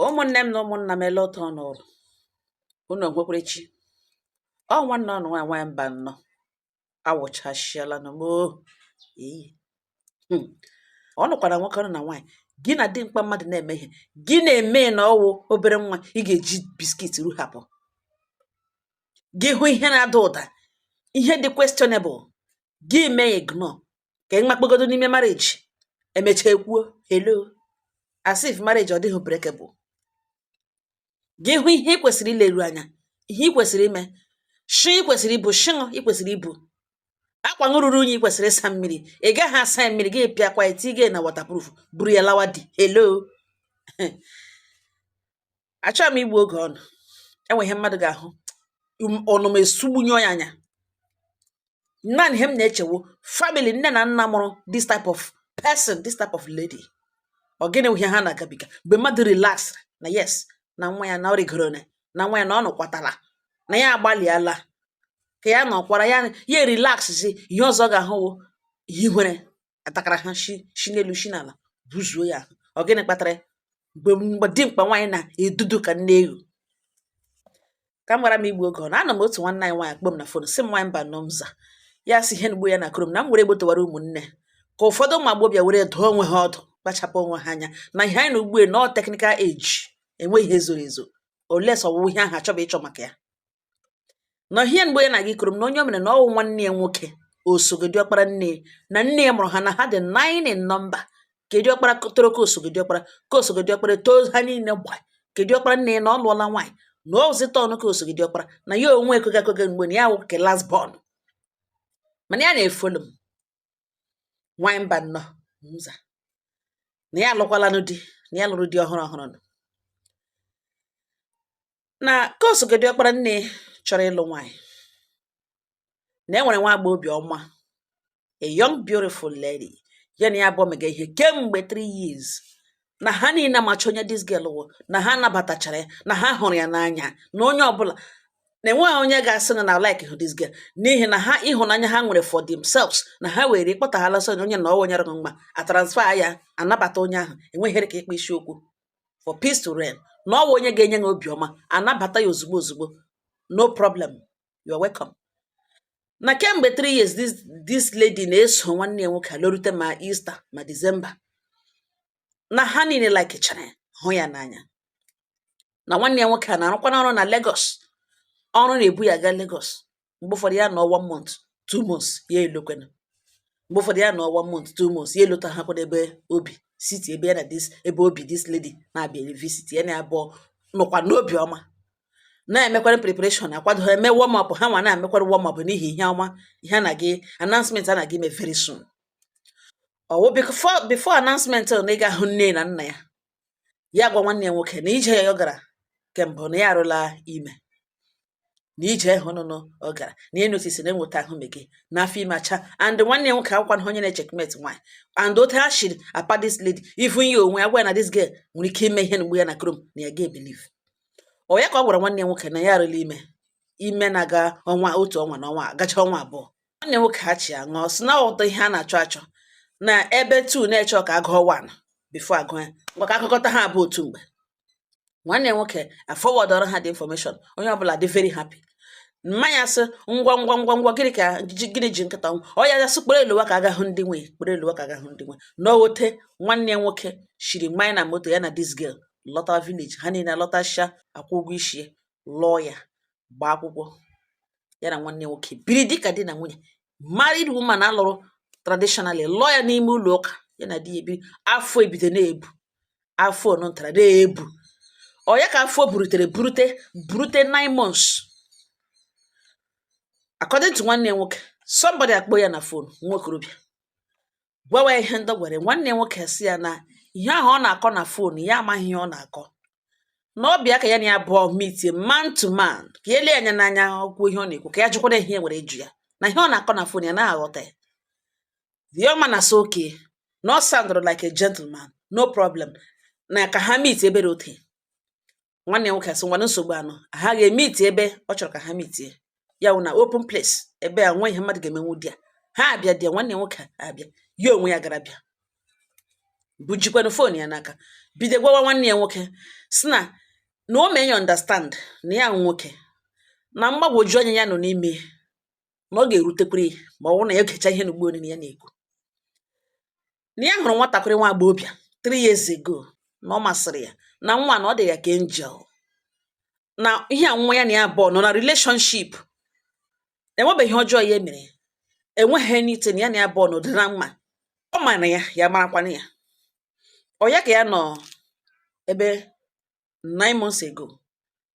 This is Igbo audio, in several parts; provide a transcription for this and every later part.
ụmụnne m na ụmụnna m ele otu ọnụ ụlọ unu nwekwara chi ọ nwanne ọnụ nwaanyị Mbanọ awụchasịala nụ moo eyi hmm. ọ nụkwara nwoke ọnụ na nwaanyị gị na dimkpa mmadụ na-eme ihe gị na-eme na ọwụ obere nwa ị ga-eji biskit ruhapụ gị hụ ihe na-ada ụda ihe dị questionable gị mee ignore ka ị makpegodo n'ime marriage emecha ekwuo hello as if marriage ọ dịghị breakable gị hụ ihe ị kwesịrị ileru anya ihe ị kwesịrị ime shi ị kwesịrị ibu shụṅụ ị kwesịrị ibu akwa ṅụ ruru unyi ị kwesịrị ịsa mmiri ị gaghị asa mmiri gị pịakwa tige na waterproof buru ya lawa di hello achọghị m igbu oge ọnụ enwe ihe mmadụ ga-ahụ ọnụma esugbunye ya anya naanị ihe m na-eche wụ family nne na nna mụrụ this type of person this type of lady ọ gịnị wụ ihe ha na-agabiga mgbe mmadụ relax na yes na nwa ya na ọ rịgoro na na nwa ya na ọ nọkwatala na ya agbalịala ka ya nọkwara ya ya relax si ihe ọzọ ga-ahụ wụ ihe nwere atakara ha shi shi n'elu shi n'ala buzuo ya ahụ ọ gịnị kpatara ya mgbe mgbe dimkpa nwaanyị na-edudu ka nne ewu ka m ghara m igbu oge ọnụ anọ m otu nwanne anyị nwaanyị akpọọ m na fon sị m nwaanyị Mbanọ m za ya sị ihe nugbo ya na-akọrọ m na m were egbo towara ụmụnne ka ụfọdụ ụmụ agbọghọbịa were dụọ onwe ha ọdụ kpachapụ onwe ha anya na ihe anyị nọ ugbue na ọ technical age enweghị ihe zoro ezo unless ọwụrụ ihe ahụ achọba ịchọ maka ya na ihe mgbe ya na-aga ịkọrọ m na onye o mere na ọwụ nwanne ya nwoke osogo di ọkpara nne ya na nna ya mụrụ ha na ha dị nine in number ke di ọkpara tọrọ ke osogo di ọkpara ke osogo di ọkpara tọọ ha niile gba ke di ọkpara nne ya na ọ lụọla nwaanyị na ọ zụta ọnụ ke osogo di ọkpara na ya onwe ekweghị ekweghị mgbe na ya wụ nke last born mana ya na-efollow m nwaanyị Mbanọ m za na ya alụkwalanụ di na ya lụrụ di ọhụrụ ọhụrụ nọ na ke osogo di ọkpara nne chọrọ ịlụ nwaanyị na e nwere nwa agbọ obi ọma a young beautiful lady ya na ya abụọ mega ihe kemgbe 3 years na ha niile amacha onye this girl wụ na ha nabatachara ya na ha hụrụ ya n'anya na onye ọbụla na enweghị onye ga-asị na na like hụ this girl n'ihi na ha ịhụnanya ha nwere for themselves na ha were ịkpọtaghala so onye na ọwa nyere mma a transfer ya anabata onye ahụ enweghị ka ịkpa isiokwu for peace to reign na ọwụ onye ga-enye ha obiọma anabata ya ozugbo ozugbo no problem you are welcome na kemgbe 3 years this, this lady na-eso nwanne ya nwoke alorute ma Easter ma December na ha niile likechara ya hụ ya n'anya na nwanne ya nwoke a na-arụkwana ọrụ na Lagos ọrụ na-ebu ya gaa Lagos mgbe ụfọdụ ya nọ one month two months ya alọkwana mgbe ụfọdụ ya nọ one month two months ya alọta ha kwado ebe o bi city ebe ya na this ebe o bi this lady na-abịa visit ya na abụọ nọkwa n'obi ọma na-emekwara preparation akwado ha eme warm up ha nwa na-emekwara warm up n'ihi ihe ọma ihe na gị announcement a na gị ime very soon ọ wụ before announcement na ị ga-ahụ nne na nna ya ya gwa nwanne ya nwoke na ije ya ọ gara kemgbe na ya arụla ime na ije ahụ nụnụ ọ gara na ya notice na enweta ahụ mege na afọ ime acha and nwanne ya nwoke awụkwanụ onye na-echeckmate nwaanyị and otu ha shiri apa this lady even ya onwe ya gwa na this girl nwere ike ime ihe mgbe ya na krom na ya ga-ebelieve ọ ya ka ọ gwara nwanne ya nwoke na ya arụla ime ime na-aga ọnwa otu ọnwa na ọnwa gacha ọnwa abụọ nwanne nwoke ha chi ya ṅụọ sị na ọ ghọta ihe a na-achọ achọ na ebe two na-eche ka a gụọ one before a gụọ ya maka a gụkọta ha abụ otu mgbe nwanne nwoke aforwardọrọ ha the information onye ọbụla dị very happy mama ya sị ngwa ngwa ngwa ngwa gịnị ka gịnị ji nkịta ọnwụ ọ ya gasị kpọrọ ya lọwa ka a ga hụ ndị nwe kpọrọ ya lọwa ka a ga hụ ndị nwe na ọ wụ otu nwanne nwoke shiri banye na moto ya na this girl lọta village ha niile lọtasịa akwụ ụgwọ ishi ya lụọ ya gbaa akwụkwọ ya na nwanne nwoke biri dịka di na nwunye married woman a lụrụ traditionally lụọ ya n'ime ụlọ ụka ya na di ya ebiri afọ ebido na-ebu afọ ọnụntara na-ebu ọ ya ka afọ burutere burute burute nine months according to nwanne ya nwoke somebody akpọ ya na fon nwa okorobịa gwawa ya ihe ndị o gwara ya. Nwanne ya nwoke sị ya na ihe ahụ ọ na-akọ na fon ya amaghị ihe ọ na-akọ. Na ọ bịa ka ya na ya abụọ meetie man to man ka ya ele ya anya n'anya ọ kwuo ihe ọ na-ekwu ka ya jụkwara ya ihe e nwere ịjụ ya na ihe ọ na-akọ na fon ya anaghị aghọta ya. The young man asị okay na ọ soundụrụ like a gentleman no problem na ka ha meet ebe dị otu a. nwanne ya nwoke asị ngwa na nsogbu anọ ha ga-emeet ebe ọ chọrọ ka ha meetie ya wụ na open place ebe enwe ihe mmadụ ga-emenwu di ya ha abịa di ya nwanne ya nwoke abịa ya onwe ya gara bịa bujikwanụ fon ya n'aka bido gwawa nwanne ya nwoke sị na na o mee ya understand na ya nwoke na mgbagwoju anya ya nọ n'ime na ọ ga-erutekwuru ya ma ọ bụrụ na ya gecha ihe na ugbo niile ya na-ekwu na ya hụrụ nwatakịrị nwa agbọghọbịa three years ago na ọ masịrị ya na nwa na ọ dị ya ka angel na ihe a nwa ya na ya abụọ nọ na relationship enwebeghị ihe ọjọọ ya mere enweghị anything na ya na ya abụọ nọ dị na mma ọ mara ya ya marakwana ya ọ ya ka ya nọ ebe nine months ago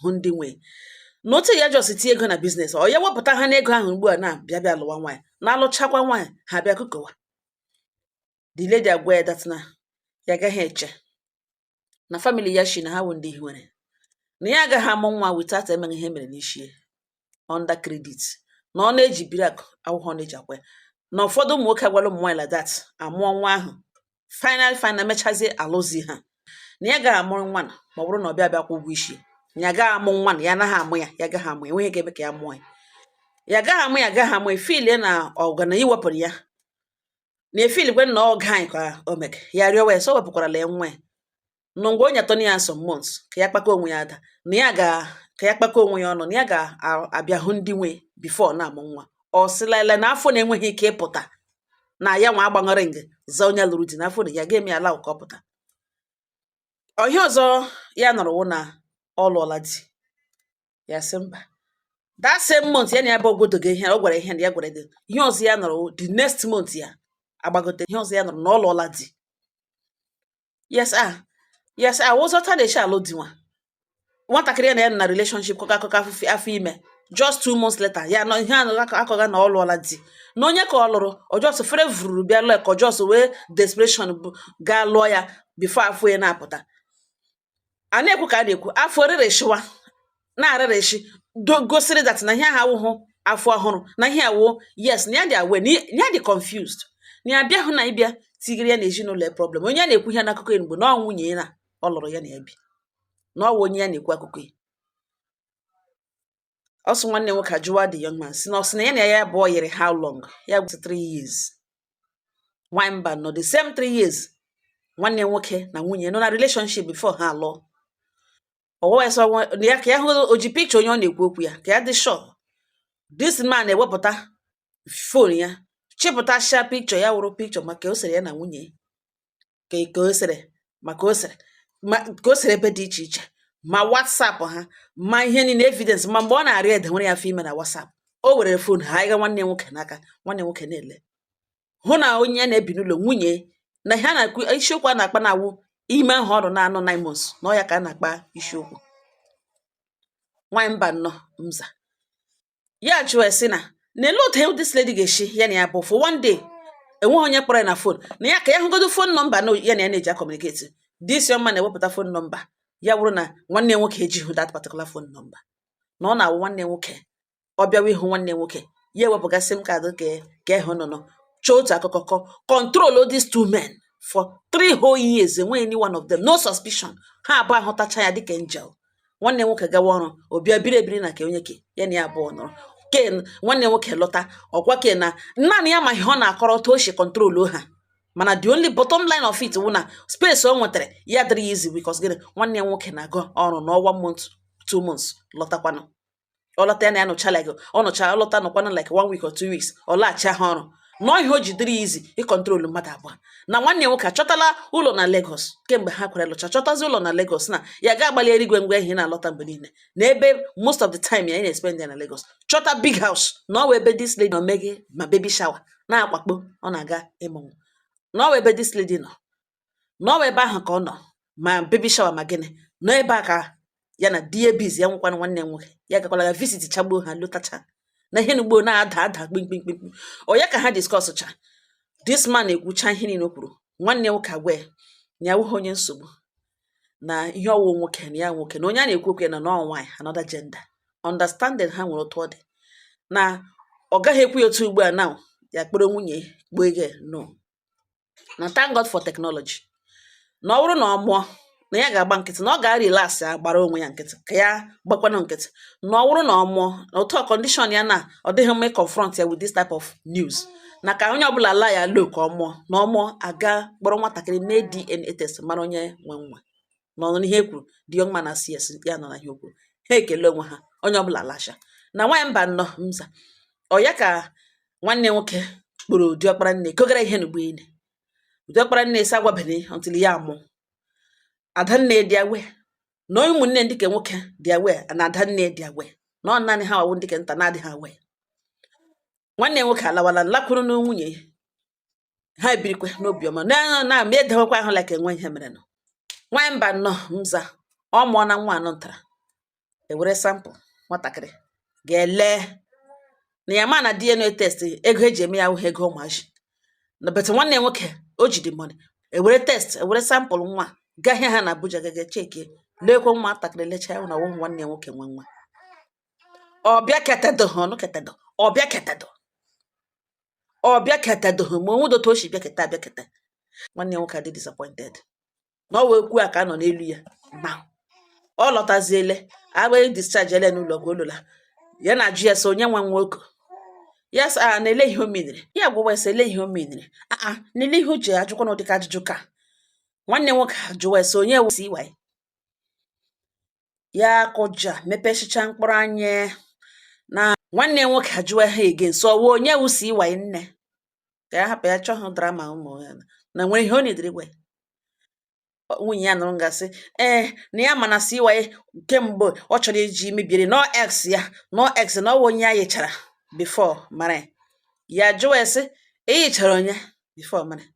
hụ ndị nwe na otu ya just tinye ego na business ọ ya wepụta ha n'ego ahụ ugbu a na-abịa bịa lụwa nwaanyị na-alụchakwa nwaanyị ha bịa kụkọwa the lady agwa ya that na ya agaghị eche na family ya shi na ha wụ ndị hiwere na ya agaghị amụ nwa without emeghị ihe mere n'ishi ya under credit na ọ na-eji biri akụ akwụkwọ ọ na-eji akwa ya na ụfọdụ ụmụ nwoke agwala ụmụ nwaanyị like that amụọ nwa ahụ final final mechazie alụzi ha na ya gaghị amụrụ nwa na ma ọ bụrụ na ọ bịa bịa kwụ ụgwọ isi ya gaghị amụ nwa na ya anaghị amụ ya ya gaghị amụ ya enweghị ihe ga-eme ka ya mụọ ya ya gaghị amụ ya gaghị amụ ya filie na ọga na iwepụrụ ya na efiligwe na ọga anyị ka o mega ya rịọwa ya sị o wepụkwarala ya nwa ya na ngwa o nyetụ ya some months ka ya kpakọ onwe ya ada na ya ga ka ya kpakọ onwe ya ọnụ na ya ga-abịa hụ ndị nwe before na-amụ nwa ọ sị lailai na afọ na-enweghị ike ịpụta na ya nwa agbaṅara nge za onye lụrụ di n'afọ na ya ga-eme ya allow ka ọ pụta ihe ọzọ ya nụrụ wụ na ọ lụọla di ya sị mba that same month ya na ya bụ ogodo gị ihe ọ gwara ihe na ya gwara gị ihe ọzọ ya nụrụ the next month ya agbagote ihe ọzọ ya nụrụ na ọ lụọla di yes ah yes ah ọ wụzi otu a na-eshi alụ di nwa nwatakịrị ya na ya nọ na relationship kọga akụkọ afụfe afọ ime just two months later ya anụ ihe a nọ akọga na ọ lụọla di na onye ka ọ lụrụ ọ just fere vụruru bịa lụọ ya ka ọ just were desperation bụ gaa lụọ ya before afọ ya na-apụta a na-ekwu ka a na-ekwu afọ rịrịshịwa na-arịrịshị gosiri that na ihe a awụhụ afọ ọhụrụ na ihe awụ yes na ya dị awe na ya dị confused na ya abịahụ na ịbịa tigiri ya na ezinụlọ ya problem onye ya na-ekwu ihe n'akụkọ ya ugbu a na ọ nwunye ya ọ lụrụ ya na ya bi na ọ wụ onye ya na-ekwu akụkọ ya ọ sị nwanne nwoke ajụwa the young man sị na ọ sị na ya na ya abụọ yiri how long ya gwa sị three years nwanyị mba nọ the same three years nwanne nwoke na nwunye nọ na relationship before ha alụọ ọ gwawa ya sị ya ka ya hụ o ji picture onye ọ na-ekwu okwu ya ka ya dị sure this man ewepụta phone ya chịpụtasha picture ya wụrụ picture ma ka o sere ya na nwunye ka ka o sere ma ka o sere ma ka o sere ebe dị iche iche ma WhatsApp ha ma ihe niile evidence ma mgbe ọ na-arịọ ya dewere ya afọ ime na WhatsApp o were phone hanyega nwanne nwoke n'aka nwanne nwoke elee hụ na onye ya na ya bi n'ụlọ nwunye na ha na-akụ isiokwu a na-akpa na-awụ ime ahụ ọrụ na-anọ nine months na ọ ya ka a na-akpa isiokwu nwaanyị mba nnọọ mza ya jụọ sị na na ele otu this lady ga-esi ya na ya abụọ for one day enweghị onye kpọrọ ya na phone na ya ka ya hụgodo phone number na ya na ya na-eji communicate this young man ewepụta phone number ya bụrụ na nwanne ya nwoke ejighị that particular phone number na ọ na-awụ nwanne ya nwoke ọ bịawa ịhụ nwanne ya nwoke ya ewepụga SIM card ka ka ị hụ nọ nọ chọọ otu akụkọ kọ control these two men for three whole years enweghị any one of them no suspicion ha abụọ ahụtacha ya dịka angel nwanne nwoke gawa ọrụ ọ bịa biri ebiri na ke onye ke ya na ya abụọ nọrọ ke nwanne nwoke lọta ọkwa ke na naanị ya ma ihe ọ na-akọrọ otu o si control ha mana the only bottom line of it wụ na space o nwetara ya dịrị ya easy because gịnị nwanne ya nwoke na-aga ọrụ nọọ one month two months lọtakwanụ ọ lọta ya na ya nọcha like ọ nọcha ọ lọta nọkwanụ like one week or two weeks ọ laghachi ha ọrụ na ọ ihe o ji dịrị ya easy ịkọntrolu mmadụ abụọ na nwanne ya nwoke achọtala ụlọ na Lagos kemgbe ha kwere lụcha chọtazi ụlọ na Lagos na ya ga-agbalị erigwe ngwa ihe na-alọta mgbe niile na ebe most of the time ya na-espend ya na Lagos chọta big house na ọ wụ ebe this lady nọ meghe ma baby shower na-akwakpo ọ na-aga ịmụ nwa na ọ wụ ebe this lady nọ na ọ wụ ebe ahụ ka ọ nọ ma baby shower ma gịnị na ọ ebe a ka ya na di ya bizi ya nwekwana nwanne nwoke ya gakwala ya visit chagbuo ha lọtacha na ihe n'ugbo na-ada ada kpimkpimkpim onye ka ha discusscha this man ekwucha ihe niile o kwuru nwanne nwoke agwa ya na ya awụghị onye nsogbu na ihe ọ wụ nwoke na ya nwoke na onye a na-ekwu okwu ya na ọ nwaanyị another gender understanding ha nwere otu ọ dị na ọ gaghị ekwu ya otu ugbu a na ya kpọrọ nwunye kpọọ ego no na thank God for technology na ọ wụrụ na ọ mụọ na ya ga-agba nkịtị na ọ ga-arelax ya gbara onwe ya nkịtị ka ya gbakwanụ nkịtị na ọ wụrụ na ọ mụọ na due to condition ya na ọ dịghị mma ịconfront ya with this type of news na ka onye ọbụla lie low ka ọ mụọ na ọ mụọ a ga-akpọrọ nwatakịrị mee DNA test mara onye nwe nwa na ọ nọ n'ihe e kwuru the young man asị yes ya nọ na ihe o kwuru ha ekele onwe ha onye ọbụla lasha na nwaanyị mba nọ mza ọ ya ka nwanne nwoke kpọrọ diọkpara nne kogara ihe n'ugbo ile diọkpara nne asị agwabene until ya amụ adanne dị aware na onye ụmụnne ndị ke nwoke dị aware na adanne dị aware na ọ naanị ha wụ ndị ke nta na-adịghị aware nwanne ya nwoke alawala lakwuru na nwunye ya ha ebirikwa n'obiọma na na ma edewekwa ahụ like enwe ihe merenụ nwaanyị mba nọ mza ọ mụọna nwa anọ ntara e were sample nwatakịrị ga ele na ya ma na DNA test ego e ji eme ya awụhụ ego ụmụazị na but nwanne ya nwoke o ji the money e were test e were sample nwa gahịa ha na Abuja gaga checkie leekwa nwatakịrị lechaa ya na ọ wụ nwanne ya nwoke nwe nwa ọ bịaketedo ọ nọketedo ọ bịaketedo ọ bịaketedo ma o nwedo otu o si bịaketa abịaketa nwanne ya nwoke adị disappointed na ọ wee kwuo a ka a nọ n'elu ya na ọ lọtaziele agbaghị edischargele n'ụlọ ọgwụ ọ lọla ya na-ajụ ya sị onye nwa nwoke ya sị ya na ele ihe o menere ya jụwa ya sị ele ihe o menere aa na ele ihe o ji ajụkwa na ụdịka ajụjụ ka nwanne nwoke ajụwa ya sị onye wụ CY ya akụja mepesịcha mkpụrụ anya na nwanne ya nwoke ajụwa ha again sị ọ wụ onye wụ CY nne ka ya hapụ ya chọhụ drama ụmụ ya na nwere ihe ọ na-ediri gwa ya. Ọ- nwunye ya nụrụ ngasị ee na ya ma na CY kemgbe ọ chọrọ iji mebiere na ọ ex ya na ọ ex na ọ wụ onye ya yichara before mara ya. ya jụwa ya sị eyichara onye before mara ya.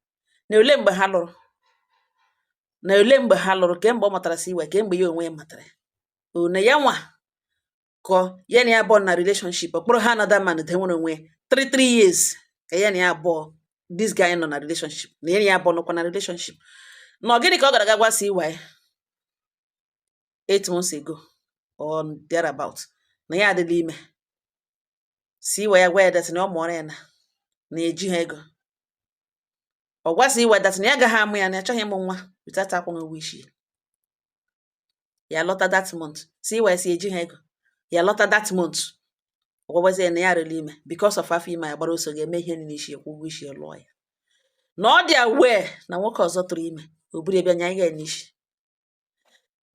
na ole mgbe ha lụrụ na ole mgbe ha lụrụ kemgbe ọ matara CY kemgbe ya onwe matara na ya nwa ka ya na ya abụọ na relationship ọkpụrụ ha another man de nwere onwe three three years ka ya na ya abụọ this guy nọ na relationship na ya na ya abụọ nọkwa na relationship na ọ gịnị ka ọ gara ga gwa CY eight months ago or thereabout na ya adịla ime CY agwa ya that na ọ mụọrọ ya na na-eji ha ego ọ gwa CY that na ya agaghị amụ ya na ya achọghị ịmụ nwa without akwụghị ụgwọ isi ya lọta that month CY si eji ha ego ya lọta that month ọ gwagwazi ya na ya rịrị ime because of afọ ime ya gbara ọsọ gaa mee ihe n'isi kwụọ ụgwọ isi lụọ ya na ọ dị aware na nwoke ọzọ tụrụ ime o buru ebe anya ya n'isi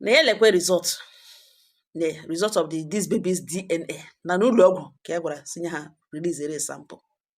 na ya lekwe result the result of the this baby's DNA na n'ụlọ ọgwụ ka e gwara si nye ha release sample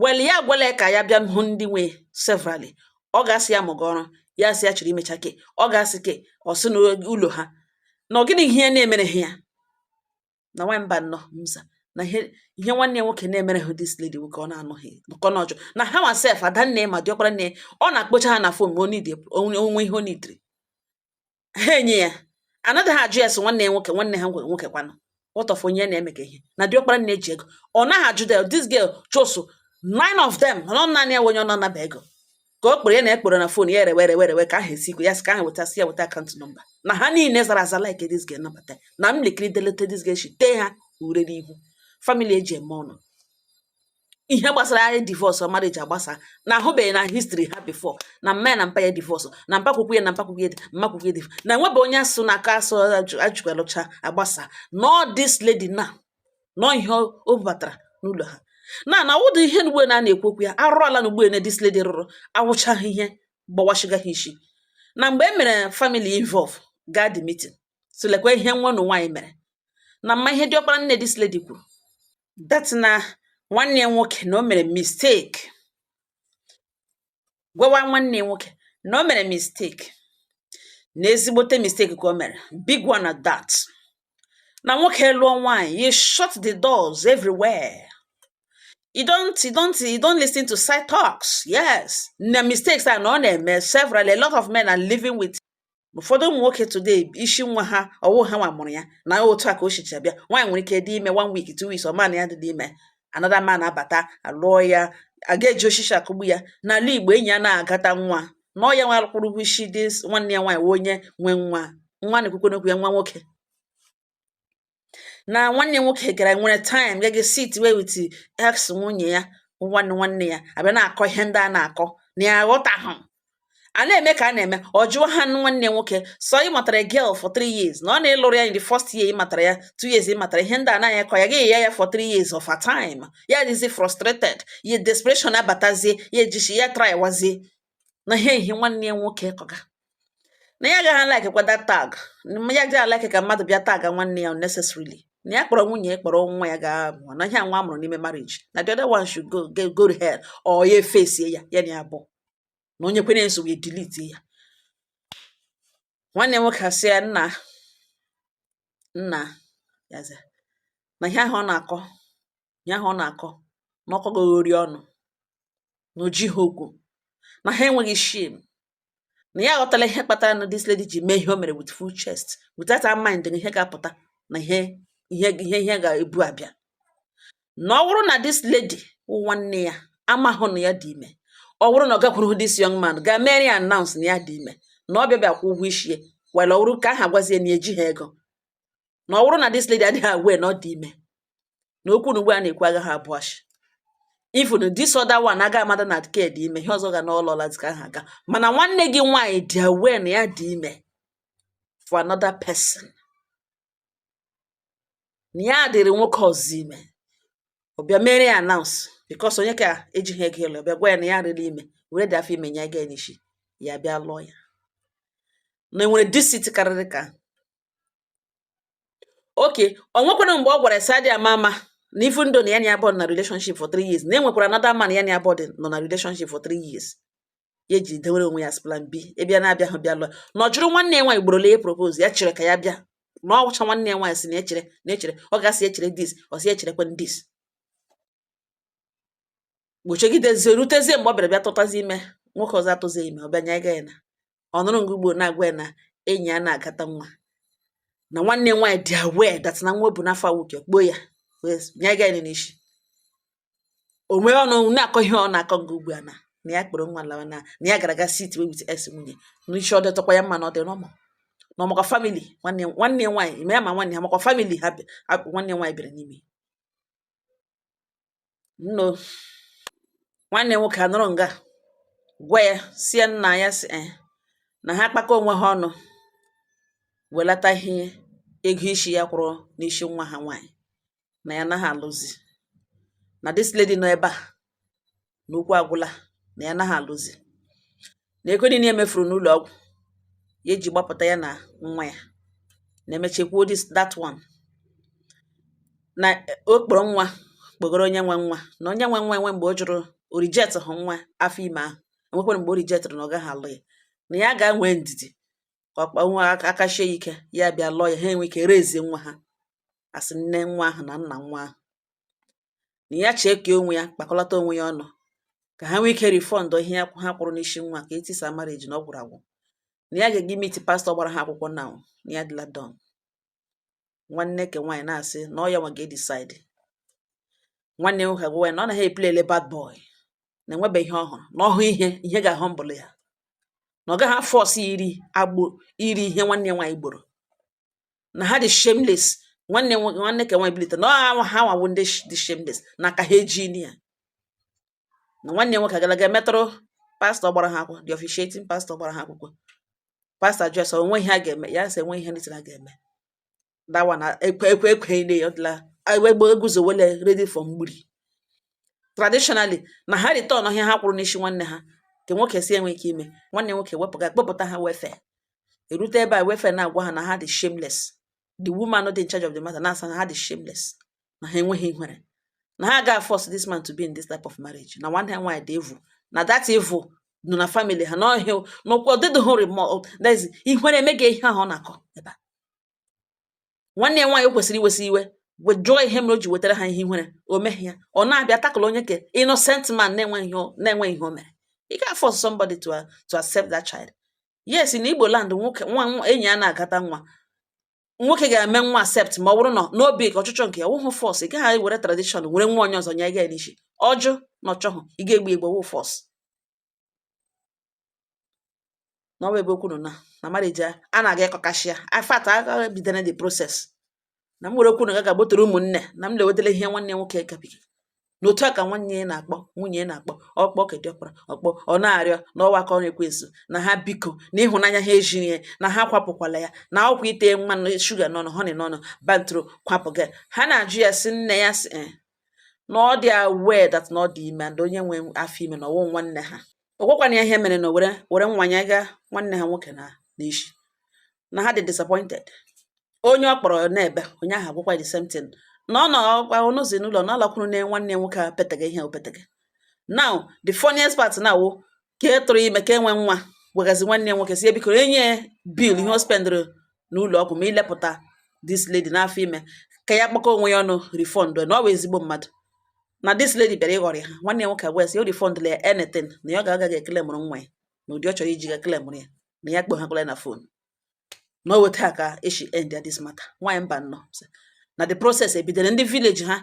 well ya gwele ka ya bịa hụ ndị nwe severally ọ ga-asị ya mụga ọrụ ya sị ya chọrọ imecha ke ọ ga-asị ke ọ sị n'ụlọ ha na ọ gịnị ihe na-emere ha ya na nwa mba nnọọ mza na ihe ihe nwanne ya nwoke na-emere ha this lady nwoke ọ na-anụghị nọkọ n'ọjọ na ha nwa sef ada nne ma diọkpara nne ọ na-akpọcha ha na phone ma o nwee ihe o neediri ha enye ya anaghị ha ajụ ya sị nwanne ya nwoke nwanne ha nwoke kwanụ what of onye na-eme ka ihe na diọkpara nne ji ego ọ naghị ajụ del this girl chosu nine of them nọ naanị ya onye ọ na-anaba ego ka o kpere ya na ekpere na phone ya erewe erewe erewe ka aha esi ikwe ya sị ka aha weta si ya weta account number na ha niile zara aza like this girl nabata na m likiri delete this girl shi tee ha ure n'ihu family e ji eme ọnụ ihe gbasara anyị divorce marriage agbasa na ahụbeghị na history ha before na mma ya na mpa ya divorce na mpakwukwu ya na mpakwukwu ya mmakwukwu ya na enwebe onye asụ na aka asụ ajụgalụcha agbasa nọ this lady na nọ ihe o bubatara n'ụlọ ha na na ụdị ihe n'ugbe na a na-ekwu okwu ya arụrụ ala na ugbe na this lady rụrụ awụchaghị ihe gbawashiga ha isi na mgbe e mere family involve gaa the meeting sị lekwa ihe nwanne nwaanyị mere na ị ma ihe diọkpara nne this lady kwuru that na nwanne ya nwoke na o mere mistake gwawa nwanne ya nwoke na o mere mistake na ezigbote mistake ka o mere big one at that na nwoke ị lụọ nwaanyị you shut the doors everywhere you don't you don't you don't listen to side talks yes na mistakes a na ọ na-eme several a lot of men are living with ụfọdụ ụmụ nwoke today isi nwa ha ọ wụ ha nwa mụrụ ya na otu a ka o shicha bịa nwaanyị nwere ike dị ime one week two weeks ọ ma na ya dị ime another man abata alụọ ya a ga-eji oshishi akụgbu ya n'ala igbo enyi ya na-agata nwa na ọ ya nwa kwụrụ ụgwọ isi di nwanne ya nwaanyị wụ onye nwe nwa nwa na-ekwukwe n'okwu ya nwa nwoke na nwanne nwoke gara were time ga sit wee with ex nwunye ya nwanne nwanne ya abịa na-akọ ihe ndị a na-akọ na ya aghọtahụ a na-eme ka a na-eme ọ jụọ ha nwanne nwoke so ị matara girl for three years na ọ na-alụrụ ya in the first year ị matara ya two years ị matara ihe ndị a na-anya kọ ya gaghị ya ya for three years of a time ya dịzi frustrated ya desperation abatazie ya ejichi ya try wazie na ihe ihe nwanne ya nwoke kọga na ya agaghị like kwa that tag ya agaghị like ka mmadụ bịa tag nwanne ya unnecessarily na ya kpọrọ nwunye ya kpọrọ nwa ya ga mụọ na ihe nwa a mụrụ n'ime marriage na the other one should go go to hell ọ ya face ya ya na ya bụ na onye kwere nso wee delete ya nwanne nwoke asị ya nna nna yaza na ihe ahụ ọ na-akọ ihe ahụ ọ na-akọ na ọ kọ goghori ọnụ na o jihụ okwu na ha enweghị shame na ya aghọtala ihe kpatara na this lady ji mee ihe o mere with full chest without her mind na ihe ga-apụta na ihe ihe ihe ihe ga-ebu abịa na ọ bụrụ na this lady wụ nwanne ya amahụ na ya dị ime ọ bụrụ na ọ gakwuru this young man ga mere ya announce na ya dị ime na ọ bịa bịa kwụ ụgwọ isi ya were ọ bụrụ ka aha gwazie na ejihụ ego na ọ bụrụ na this lady adịghị aware na ọ dị ime na okwu na ugbu a na-ekwu agaghị abụ ashị even this other one aga amada na nke dị ime ihe ọzọ ga na ọlọla ka ha aga mana nwanne gị nwaanyị dị aware na ya dị ime for another person na ya dịrị nwoke ọzọ ime ọ bịa mere ya announce because onye nke ejighị ego ịlụ ọ bịa gwa ya na ya dịrị ime were the afọ ime nye ga n'isi ya bịa lụọ ya na e nwere deceit karịrị nke a okay o nwekwara mgbe ọ gwara Sadi ama ama na ifu ndo na ya na ya both na relationship for three years na e nwekwara another man ya na ya both nọ na relationship for three years ya ji dewere onwe ya as plan B ị bịa na abịahụ bịa lụọ na ọ jụrụ nwanne ya nwaanyị gborole ya propose ya chere ka ya bịa na ọ gwacha nwanne ya nwaanyị sị na echere na echere ọ ga-asị echere this ọ sị echerekwa this boy chegidezi rutezie mgbe ọ bịara bịa tụtazi ime nwoke ọzọ atụzi ime ọ bịa nye ga ya na ọ nọrọ nga ugbu a na-agwa ya na enyi ya na-agata nwa na nwanne ya nwaanyị dị aware that na nwa o bu n'afọ awụke kpoo ya wee nye ga ya n'isi o nwee ọnụ na-akọ ihe ọ na-akọ nga ugbu a na na ya kpọrọ nwa lawa na na ya gara aga sit wee with ex nwunye n'isi ọ dịtọkwa ya mma na ọ dị normal na ọ makwa family nwanne nwanne ya nwaanyị ma ya ma nwanne ya makwa family ha bi- ha- nwanne ya nwaanyị bịara n'ime ụnọ nwanne nwoke anọrọ nga gwa ya sị ya nna ya sị eh, na ha kpakọ onwe ha ọnụ welata ihe ego isi ya kwụrụ n'isi nwa ha nwaanyị na ya naghị alụzi na this lady nọ ebe a na okwu agwụla na ya naghị alụzi na ego niile emefuru n'ụlọ ọgwụ ya eji gbapụta ya na nwa ya na-emechekwuo dis that one na eh, o kpọrọ nwa kpọgoro onye nwe nwa na onye nwe nwa enwe mgbe ọ jụrụ o rejecthụ nwa afọ ime ahụ enwekwara mgbe o rejectịrị na ọ gaghị alụ ya na ya ga nwee ndidi ka ọ kpa nwa aka aka sie ya ike ya bịa lụọ ya ha enwe ike raise nwa ha as nne nwa ahụ na nna nwa ahụ na ya chee ka onwe ya kpakọlata onwe ya ọnụ ka ha nwee ike refund ihe ha kwụrụ n'isi nwa ka etisa marriage na ọ gwụrụ agwụ na ya ga-ege meet pastọ gbara ha akwụkwọ na na ya dịla done nwanne ke nwaanyị na-asị na ọ ya nwa ga-edecide nwanne nwoke agwa ya na ọ naghị eplayle bad boy na enwebeghị ihe ọ hụrụ na ọ hụ ihe ihe ga-ahụ mbụlụ ya na ọ gaghị aforce iri agbọ iri ihe nwanne ya nwaanyị gbọrọ na ha dị shameless nwanne nwoke nwanne ka nwaanyị bilite na ọ ha nwa wụ ndị dị shameless na aka ha eji ya na nwanne nwoke agala ga meetụrụ pastọ gbara ha akwụkwọ the officiating pastọ gbara ha akwụkwọ pastọ jụọ sị o nwe ihe a ga-eme ya sị enwe ihe ndị a ga-eme dawa na ekwe ekwe ekwe ile ya ọ dịla egbe eguzowele ready for mgbiri traditionally na ha return ihe ha kwụrụ n'isi nwanne ha nke nwoke sị enwe ike ime nwanne nwoke wepụga kpọpụta ha welfare erute ebe a welfare na-agwa ha na ha dị shameless the woman dị in charge of the matter na-asị na ha dị shameless na ha enweghị ihere na ha ga force this man to be in this type of marriage na nwanne ha nwaanyị dị evil na that evil nọ na family ha na ọ ihe ọ na-ekwu ọ dịdịhụ remorse ihere emeghị ihe ahụ ọ na-akọ ebe a nwanne ya nwaanyị o kwesịrị iwesị iwe jụọ ihe mere o ji wetara ha ihe ihere o meghị ya ọ na-abịa tackle onye ke innocent man na-enweghị ihe o- na-enweghị ihe o mere ị gaghị force somebody to, a- to accept that child yes na Igbo land nwoke nwa nwa- enyi ya na-agata nwa nwoke ga-eme nwa accept ma ọ bụrụ na n'obi ka ọchịchọ nke ya wụhụ force ị gaghị were tradition were nwa onye ọzọ nye gị n'isi ọ jụ na ọ chọhụ ị ga-egbu egbu wụ force na ọ bụ ebe okwu nọ na na marriage a na-aga ịkọkasị ya in fact agaghị bidoro the process na m were okwu nụ ga ga butere ụmụnne na m lewetara ihe nwanne nwoke gabiga n'otu a ka nwanne ya na-akpọ nwunye ya na-akpọ ọ kpọ ke dị ọkpara ọ kpọ ọ na-arịọ na ọ wụ aka ọrụ ekwensu na ha biko na ịhụnanya ha ejiri ya na ha kwapụkwala ya na ọ kwa ite mmanụ sugar n'ọnụ honey n'ọnụ bantro kwapụ gị ha na-ajụ ya sị nne ya sị eh, na ọ dị aware that na ọ dị ime and onye nwe afọ ime na ọ wụ nwanne ha ọ gwakwana ya ihe mere na were were nwanye ga nwanne ha nwoke na n'isi na ha dị disappointed onye ọ kpọrọ na-ebe onye ahụ agwakwa the same thing na ọ nọhụzi n'ụlọ na ọ lakwuru na nwanne nwoke a petega ihe o petega now the funniest part now wụ ka e tụrụ ime ka e nwee nwa gwagazi nwanne ya nwoke sị ya biko enye ya bill ihe o spendịrị n'ụlọ ọgwụ ma ilepụta this lady n'afọ ime ka ya kpakọ onwe ya ọnụ refund na ọ bụ ezigbo mmadụ na this lady bịara ịghọrị ha nwanne ya nwoke wee sị o refundla ya anything na ya ga-aga eclaimụrụ nwa ya na ụdị ọ chọrọ iji ga eclaimụrụ ya na ya kpọhakwala na phone na ọ wụ etu a ka esi end ya this matter nwaanyị Mbano na the process ebidere ndị village ha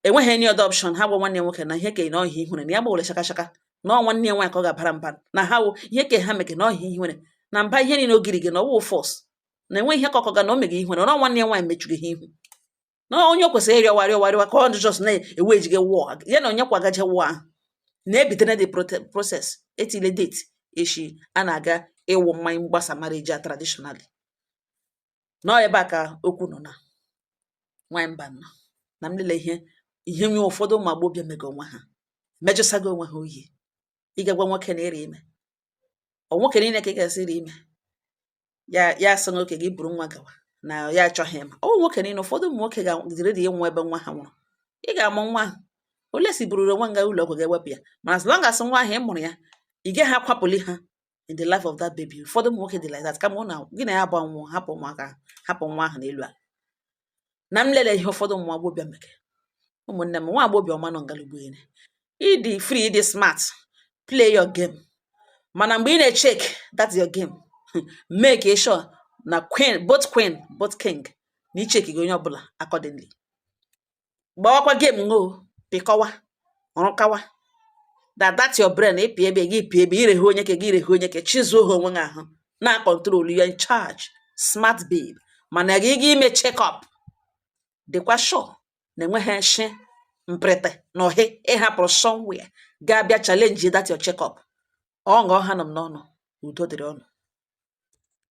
enweghị any other option ha gwa nwanne nwoke na ihe ke na ọ ihe ihere na ya gbawere shaka shaka na ọ nwanne ya nwaanyị ka ọ ga-abara mba na ha wo ihe ke ha mege na ọ ihe ihere na mba ihe niile ogiri gị na ọ wụ false na enweghị ihe ka ọkọ ga na o meghị ihere na ọ nwanne ya nwaanyị mechuru ha ihu na onye o kwesịrị ịrịọwa rịọwa rịọwa ka ọ just na-ewe ejige wụọ ya na onye kwagaje wụọ ahụ na-ebitere the process etile date echi a na-aga ịwụ mmanya mgbasa marriage a traditionally na ọ ebe a ka okwu nọ na nwanyị Mbano na m lele ihe ihe nwe ụfọdụ ụmụ agbọghọbịa mega onwe ha mejọsago onwe ha oyi ị ga-agwa nwoke na ị rị ime ọ nwoke niile ka ị ga-asị ị rị ime ya ya sị okay gị buru nwa gawa na ya achọghị ịma ọ nwoke niile ụfọdụ ụmụ nwoke ga-adị ready ịnwụ ebe nwa ha nwụrụ ị ga-amụ nwa ahụ unless i bururu nwa gaa ụlọ ọgwụ gaa wepụ ya mana as long as nwa ahụ ị mụrụ ya ị gaghị akwapụli ha in the life of that baby ụfọdụ ụmụ nwoke dị like that kama ụna gị na ya gba nwụọ hapụ ụmụaka hapụ nwa ahụ n'elu ala na m lele ihe ụfọdụ ụmụ agbọghọbịa mege ụmụnne m nwa agbọghọbịa ọma nọ ngalugbo ire ị dị free ị dị smart play your game mana mgbe ị na-echeck that your game make sure na queen both queen both king na i checkiga onye ọbụla accordingly gbawakwa game ngo pịkọwa rụkawa that that your brain ị pị ebe gị pị ebe irehe onye ke gị irehe onye ke chizuo ha onwe gị ahụ na control you are in charge smart babe mana ka ị ga-eme check up dịkwa sure na enweghị nshi mprịtị na ohe ịhapụrụ somewhere ga-abịa challenge that your check up ọ nga ọ hanụ m n'ọnụ udo dịrị ụnụ